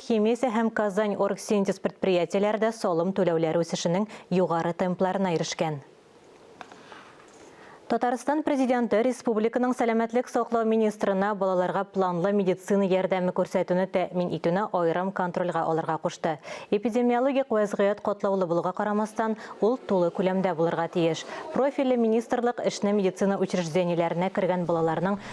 Химеся һәм Казань Оргсинтез предприятиеләре дә салым түләүләре үсешенең югары темпларына ирешкән. Татарстан Президенты республиканың сәламәтлек саклау министрына балаларга планлы медицина ярдәме күрсәтүне тәэмин итүне аерым контрольгә алырга кушты. Эпидемиологик вәзгыять катлаулы булуга карамастан, ул тулы күләмдә булырга тиеш. Профильле министрлык эшне медицина учреждениеләренә кергән балаларның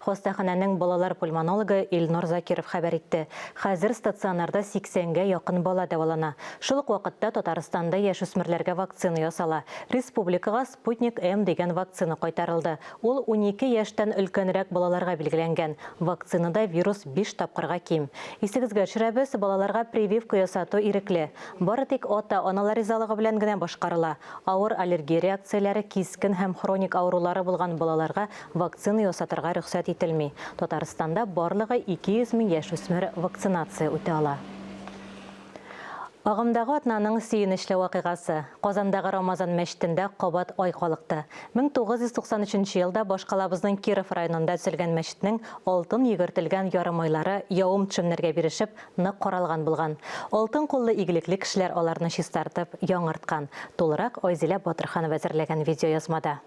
Хастаханәнең балалар пульмонологы Илнур Закиров хәбәр итте. Хәзер стационарда 80 гә якын бала дәвалана. Шул ук вакытта Татарстанда яшүсмерләргә вакцина ясала. Республикага Спутник-М дигән вакцина кайтарылды. Ул унике яшьтән өлкәнрәк балаларга билгеләнгән. Вакцинада вирус биш тапкырга ким. Исегезгә төшерәбез, балаларга прививка ясату ирекле. Бары тик ата-аналар ризалыгы белән генә башкарыла. Авыр аллергия реакцияләре, кискен һәм хроник авырулары булган балаларга Вакцина ясатырга рөхсәт ителми. Татарстанда барлыгы 200 мең яшүсмер вакцинация үтә ала. Агымдагы атнаның сөенечле вакыйгасы. Казандагы Рамазан мәчетендә кабат ай калыкты. 1993 елда башкалабызның Киров районында төзелгән мәчетнең алтын йөгертелгән ярым айлары явым-төшемнәргә бирешеп, нык каралган булган. Алтын куллы игелекле кешеләр аларны чистартып, яңарткан. Тулырак Айзилә Батырханова әзерләгән видеоязмада.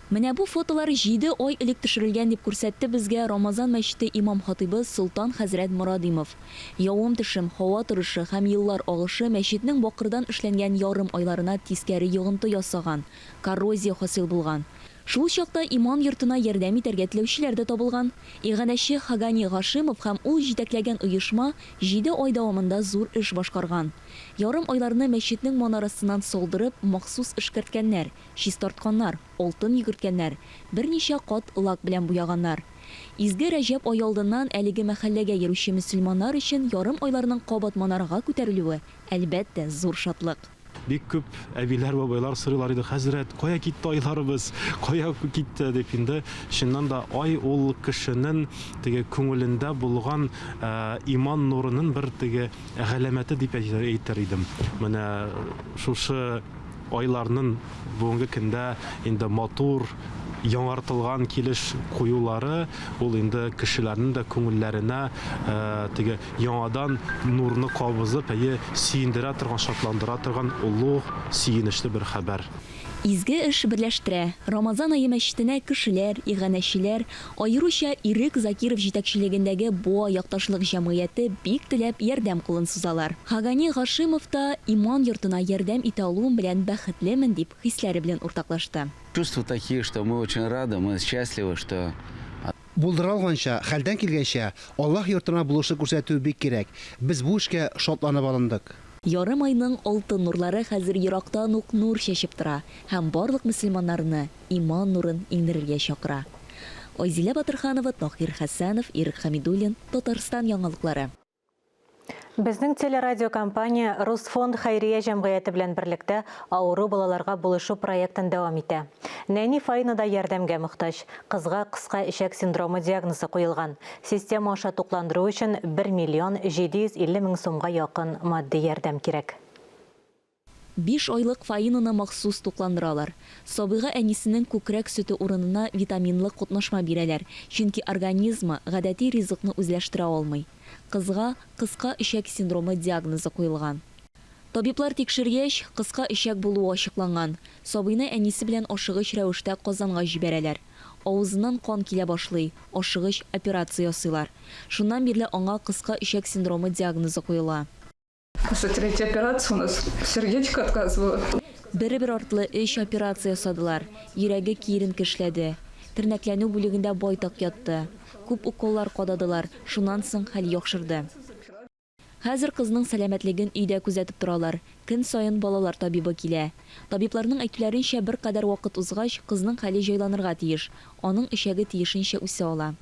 Менә бу фотолар җиде ай элек төшерелгән, дип күрсәтте безгә Рамазан мәчете имам-хатыйбы Солтан хәзрәт Морадимов. Явым-төшем, һава торышы һәм еллар агышы мәчетнең бакырдан эшләнгән ярым айларына тискәре йогынты ясаган, коррозия хасил булган. Шул чакта иман йортына ярдәм итәргә теләүчеләр дә табылган. Иганәче Хагани Гашимов һәм ул җитәкләгән оешма җиде ай дәвамында зур эш башкарган. Ярым айларны мәчетнең манарасыннан салдырып, махсус эшкәрткәннәр. чистартканнар, алтын йөгерткәннәр, берничә кат лак белән буяганнар. Изге Рәҗәб ае алдыннан әлеге мәхәлләгә йөрүче мөселманнар өчен ярым айларның кабат манарага күтәрелүе, әлбәттә, зур шатлык. Бик күп әбиләр, бабайлар сорыйлар иде, Хәзрәт, кая китте айларыбыз, кая китте? дип. Инде, чыннан да, ай ул кешенең теге күңелендә булган иман нурының бер теге галәмәте дип әйтер идем. Менә шушы. Айларнын бүгенге көндә инде матур яңартылган килеш куюлары, ул инде кешеләрнең дә күңелләренә теге яңадан нурны кабызып, әйе, сөендерә торган, шатландыра торган олуг, сөенечле бер хәбәр. Изге эш берләштерә. Рамазан ае мәчетенә кешеләр, иганәчеләр, Аеруча Ирек Закиров җитәкчелегендәге Боа якташлык җәмгыяте бик теләп ярдәм кулын сузалар. Хагани Гашимов та иман йортына ярдәм итә алуым белән бәхетлемен, дип хисләре белән уртаклашты. Чувства такие, что мы очень рады, мы счастливы, что. Булдыра алганча, хәлдән килгәнчә, Аллаһ йортына булышлык күрсәтү бик кирәк. Без бу эшкә шатланып алындык. Ярым айның алтын нурлары хәзер ерактан ук нур чәчеп тора һәм барлык мөселманнарны, иман нурын иңдерергә чакыра. Айзилә Батырханова, Таһир Хәсәнов, Ирек Хәмидуллин, Татарстан яңалыклары. Безнең телерадиокомпания Русфонд хәйрия җәмгыяте белән берлектә авыру балаларга булышу проектын дәвам итә. Нәни Фаина да ярдәмгә мохтаҗ. Кызга кыска эчәк синдромы диагнозы куелган. Система аша тукландыру өчен бер миллион 750 мең сумга якын матди ярдәм кирәк. Биш айлык Фаинаны махсус тукландыралар. Сабыйга әнисенең күкрәк сөте урынына витаминлы котнашма бирәләр, чөнки организмы гадәти ризыкны үзләштерә алмый. Кызга кыска эчәк синдромы диагнозы куелган. Табиблар тикшергәч, кыска эчәк булуы ачыкланган. Сабыйны әнисе белән ашыгыч рәвештә Казанга җибәрәләр. Авызыннан кан килә башлый, ашыгыч операция ясыйлар. Шуннан бирле аңа кыска эчәк синдромы диагнозы куела. Уже третья операция у нас. Сердечко отказывало. Бер-бер артлы өч операция ясадылар. Йөрәге киеренке эшләде. Тернәкләнү бүлегендә байтак ятты. Күп уколлар кададылар, шуннан соң хәл яхшырды. Хәзер кызның сәламәтлеген өйдә күзәтеп торалар. Көн саен балалар табибы килә. Табибларның әйтүләренчә, беркадәр вакыт узгач, кызның хәле җайланырга тиеш, аның эчәге тиешенчә үсә ала.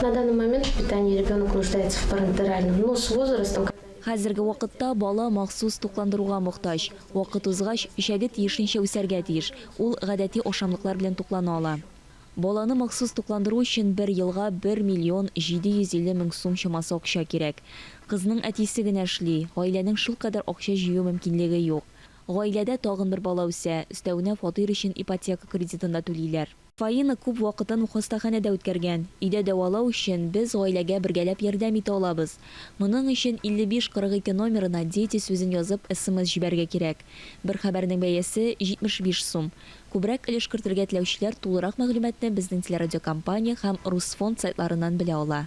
На данный момент в питании ребенок нуждается в парентеральном, но с возрастом, когда. Хәзерге вакытта бала махсус тукландыруга мохтаҗ. Вакыт узгач, печәге тиешенчә үсәргә тиеш, ул гадәти ашамлыклар белән туклана ала. Баланы махсус тукландыру өчен бер елга бер миллион 750 мең сум чамасы акча кирәк. Кызның әтисе генә эшли, гаиләнең шулкадәр акча җыю мөмкинлеге юк. Гаиләдә тагын бер бала үсә, өстәвенә фатир өчен ипотека кредитын да түлиләр. Фаина күп вакытын хастаханәдә үткәргән. Өйдә дәвалау өчен без гаиләгә бергәләп ярдәм итә алабыз. Моның өчен 5542 номерына Дети сүзен язып смс җибәрергә кирәк. Бер хәбәрнең бәясе, 75 сум. Күбрәк өлеш кертергә теләүчеләр тулырак мәгълүматны безнең телерадиокомпания һәм Русфонд сайтларыннан белә ала.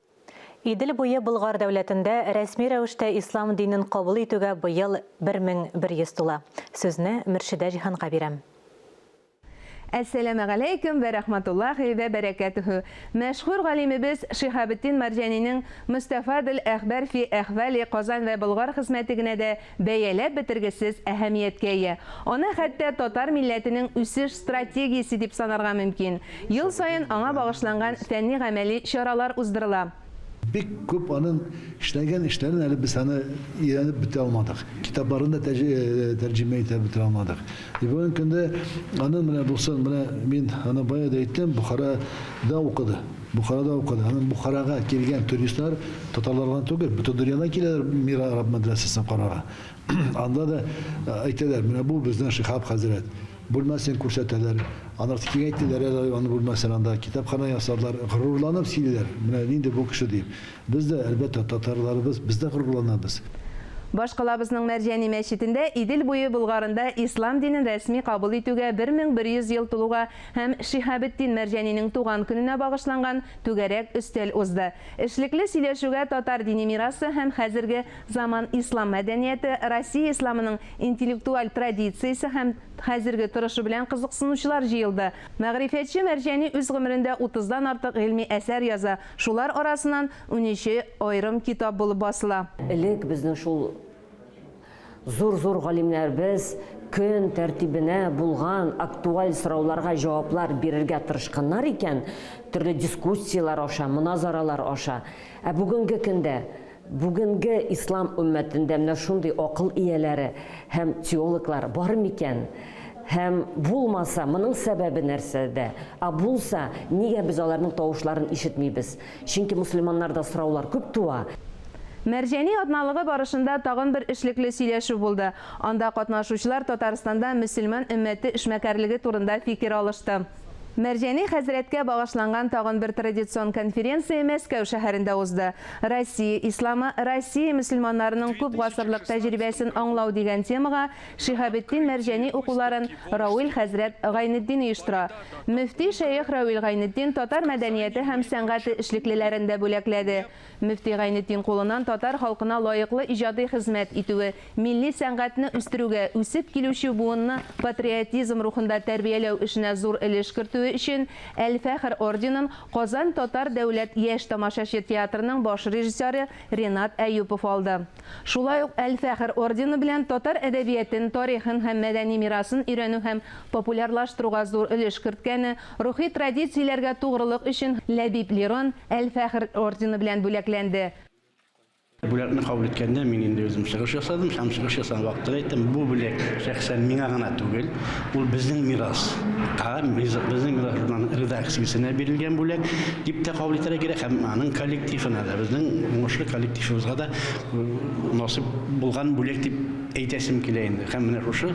Идел буе Болгар дәүләтендә рәсми рәвештә ислам динен кабул итүгә быел 1100 тула. Сүзне Мөршидә Җиһанга бирәм. Әссәләмәгаләйкүм вә рәхмәтуллаһи вә бәрәкәтүһү! Мәшһүр галимебез Шиһабетдин Марҗанинең Мөстәфадел әхбар фи әхвали Казан вә Болгар хезмәте генә дә Бәяләп бетергесез әһәмияткә ия. Аны хәтта татар милләтенең үсеш стратегиясе дип санарга мөмкин. Ел саен аңа багышланган фәнни-гамәли чаралар уздырыла. Бик күп аның эшләгән эшләрен әле без аны өйрәнеп бетерә алмадык, китапларын да тәрҗемә итә бетерә алмадык. И бүгенге көндә аның менә булсын, менә мин аны бая да әйттем, Бохара да укыды. Бухарада укыды. Аннан Бухарага килгән туристлар татарлар гына түгел, бөтен дөньядан киләләр Мир араб мәдрәсәсен карарга. Анда да әйтәләр, менә бу безнең Шиһаб хәзрәт. Бүлмәсен күрсәтәләр. Аннан соң киңәйтәләр әле аның бүлмәсен, анда китапханә ясадылар. Горурланып сөйлиләр, менә нинди бу кеше дип. Без дә, әлбәттә, татарларыбыз, без дә горурланабыз. Башкалабызның Мәрҗани мәчетендә Идел буе Болгарында ислам динен рәсми кабул итүгә 1100 ел тулуга һәм Шиһабетдин Мәрҗәнинең туган көненә багышланган түгәрәк өстәл узды. Эшлекле сөйләшүгә татар дини мирасы һәм хәзерге заман ислам мәдәнияте, Россия исламының интеллектуаль традициясе һәм хәзерге торышы белән кызыксынучылар җыелды. Мәгърифәтче Мәрҗәни үз гомерендә утыздан артык гыйльми әсәр яза, шулар арасыннан унөче аерым китап булып басыла. Элек безнең шул Зур-зур галимнәребез көн тәртибенә булган актуаль сорауларга җаваплар бирергә тырышканнар икән, төрле дискуссияләр аша, моназаралар аша. Ә бүгенге көндә, бүгенге ислам өммәтендә менә шундый акыл ияләре һәм теологлар бар микән? Һәм булмаса, моның сәбәбе нәрсәдә? Ә булса, нигә без аларның тавышларын ишетмибез? Чөнки мөселманнарда сораулар күп туа. Мәрҗани атналыгы барышында тагын бер эшлекле сөйләшү булды. Анда катнашучылар Татарстанда мөселман өммәте эшмәкәрлеге турында фикер алышты. Мәрҗани хәзрәткә багышланган тагын бер традицион конференция Мәскәү шәһәрендә узды. Россия исламы, Россия мөселманнарының күп гасырлык тәҗрибәсен аңлау дигән темага Шиһабетдин Мәрҗани укуларын Рауил хәзрәт Гайнетдин оештыра. Мөфти шәех Рауил Гайнетдин татар мәдәнияте һәм сәнгате эшлеклеләрен дә бүләкләде. Мөфти Гайнетдин кулыннан татар халкына лаеклы иҗади хезмәт итүе, милли сәнгатьне үстерүгә, үсеп килүче буынны патриотизм рухында тәрбияләү эшенә зур өлеш кертүе өчен Әл-Фәхр орденын Казан татар дәүләт яшь тамашачы театрының баш режиссеры Ренат Әюпов алды. Шулай ук Әл-Фәхер ордены белән татар әдәбиятен, тарихын һәм мәдәни мирасын өйрәнү һәм популярлаштыруга зур өлеш керткәне, рухи традицияләргә тугрылык өчен Ләбиб Лерон Әл-Фәхер ордены белән бүләкләнде. Бүләкне кабул иткәндә мин инде үзем чыгыш ясадым һәм чыгыш ясаган вакытта да әйттем, бу бүләк шәхсән миңа гына түгел, Ул безнең мирас. Һәм безнең мирасның редакциясенә бирелгән бүләк дип тә кабул итәргә кирәк, һәм аның коллективына да, безнең уңышлы коллективыбызга да насыйп булган бүләк дип әйтәсем килә инде. Һәм менә шушы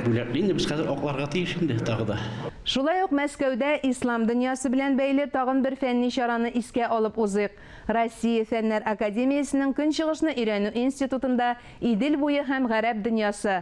бүләкне инде без хәзер акларга тиеш инде тагы да. Шулай ук Мәскәүдә Ислам дөньясы белән бәйле тагын бер фәнни чараны искә алып узыйк. Россия Фәннәр академиясенең Көнчыгышны өйрәнү институтында Идел буе һәм гарәп дөньясы,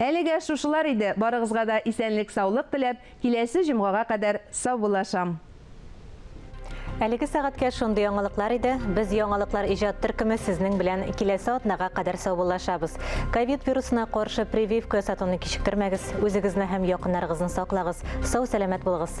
Әлегә шушылар иде, барыгызга да исәнлек саулык теләп, киләсе җомгага кадәр саубуллашам. Әлеге сәгатькә шундый яңалыклар иде, без яңалыклар иҗат төркеме сезнең белән киләсе атнага кадәр саубуллашабыз. Ковид вирусына каршы прививка ясатуны кичектермәгез, үзегезне һәм якыннарыгызны саклагыз, сау-сәламәт булыгыз!